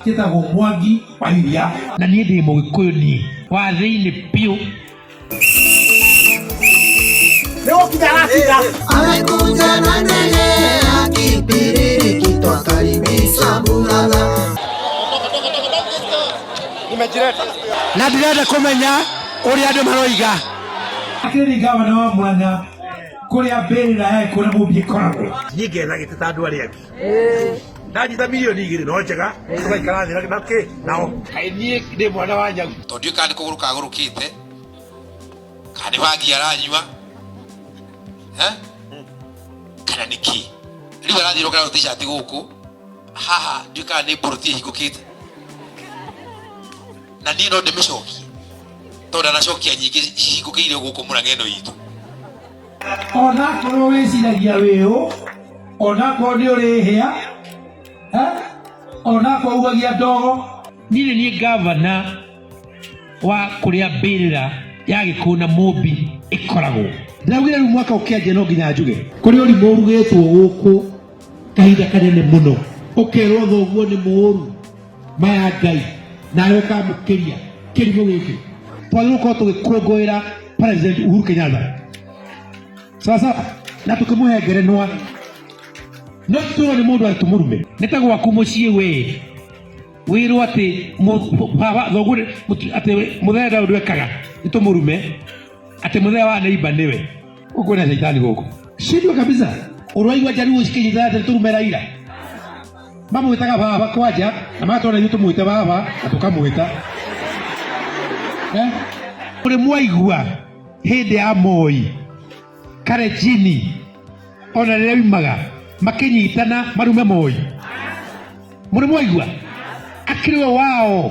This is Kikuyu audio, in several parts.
njĩtagwo mwangi wa iria na niĩ ndĩ mũgĩkũyũ niĩ wa thĩinĩ biũ Amekuja na ndege ya kipiriri kitwakaribisha Mulaga. na ndirenda kũmenya ũrĩa andũ maroiga akĩringa wana wa mwana kũrĩa mbĩrĩra yaĩ kũrĩa mũmbi ĩkoragwo niĩ ngetha gĩtĩ ta andũ arĩa angĩ ndanyita milioni igĩrĩ no njega tũgaikara thĩ na kĩ nao kaĩ niĩ ndĩ mwana wa nyau tondũ ndiũĩ kana nĩ kũgũrũ kagũrũkĩte kana nĩ bangi aranyua eh? kana nĩ kĩ rĩu arathiĩ rokera tishati gũkũ haha ndiũĩ kana nĩ mboroti ĩhingũkĩte na niä no ndä mä cokie tondå ndanacokia nyingä cihingå kä ire gå kå må rang'ä no itå onakorwo wĩciragia wĩ ũ onakorwo nĩ ũrĩ hĩa eh, onakorwo ugagia ndogo niĩ nĩ ngavana wa kũrĩa mbĩrĩra ya gĩkũyũ na mũmbi ĩkoragwo ndaugire rĩu mwaka ũkĩanjia no nginya njuge kũrĩ ũrimũ ũrugĩtwo gũkũ kahinda kanene mũno ũkerwo thoguo nĩ mũũru maya ngai nawe ũkamũkĩria kĩrimũ gĩkĩ twagĩrĩirwo gũkorwo tũgĩkũngũĩra president uhuru kenyatta sawa sawa na tũkĩmũhe ngerenwa no tũrwo nĩ mũndũ arĩtũ mũrume nĩ ta gwaku mũciĩ wee wĩrwo atĩ mũ- baba thoguo nĩ- mũtu- atĩ we- mũthee ndaũ ndwekaga nĩ tũmũrume atĩ mũthee wa neiba nĩwe ũguo nĩ caitani gũkũ shindwe kabisa ũrwaigua njaruo cikĩnyitana atĩ nĩ tũrume raira mamwĩtaga baba kwanja na matwona ithuĩ tũmwĩte baba na tũkamwĩta Eh? ũrĩ mwaigua hĩndĩ ya moi karejini ona rĩrĩa umaga makĩnyitana marume moi mũrĩ mwaigua akĩrĩ we wao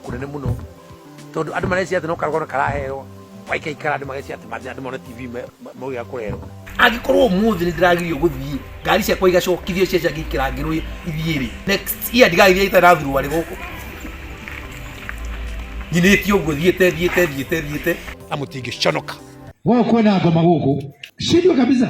kũnene mũno tondũ andũ marecia atĩ no karũgano karaheo waikaikara andũ magecia atĩ mathĩna andũ mone tv maũgĩa kũrerwo angĩkorwo ũmũthĩ nĩ ndĩragirio gũthiĩ ngari ciakwa igacokithio cia ciangĩ ikĩrangĩrwo ithiĩ rĩ next year ndigathiĩ itarathurwo arĩ gũkũ nyinĩtie ũguo thiĩte thiĩte thiĩte thiĩte na mũtingĩconoka wewe kwenda ngoma gũkũ shindwe kabisa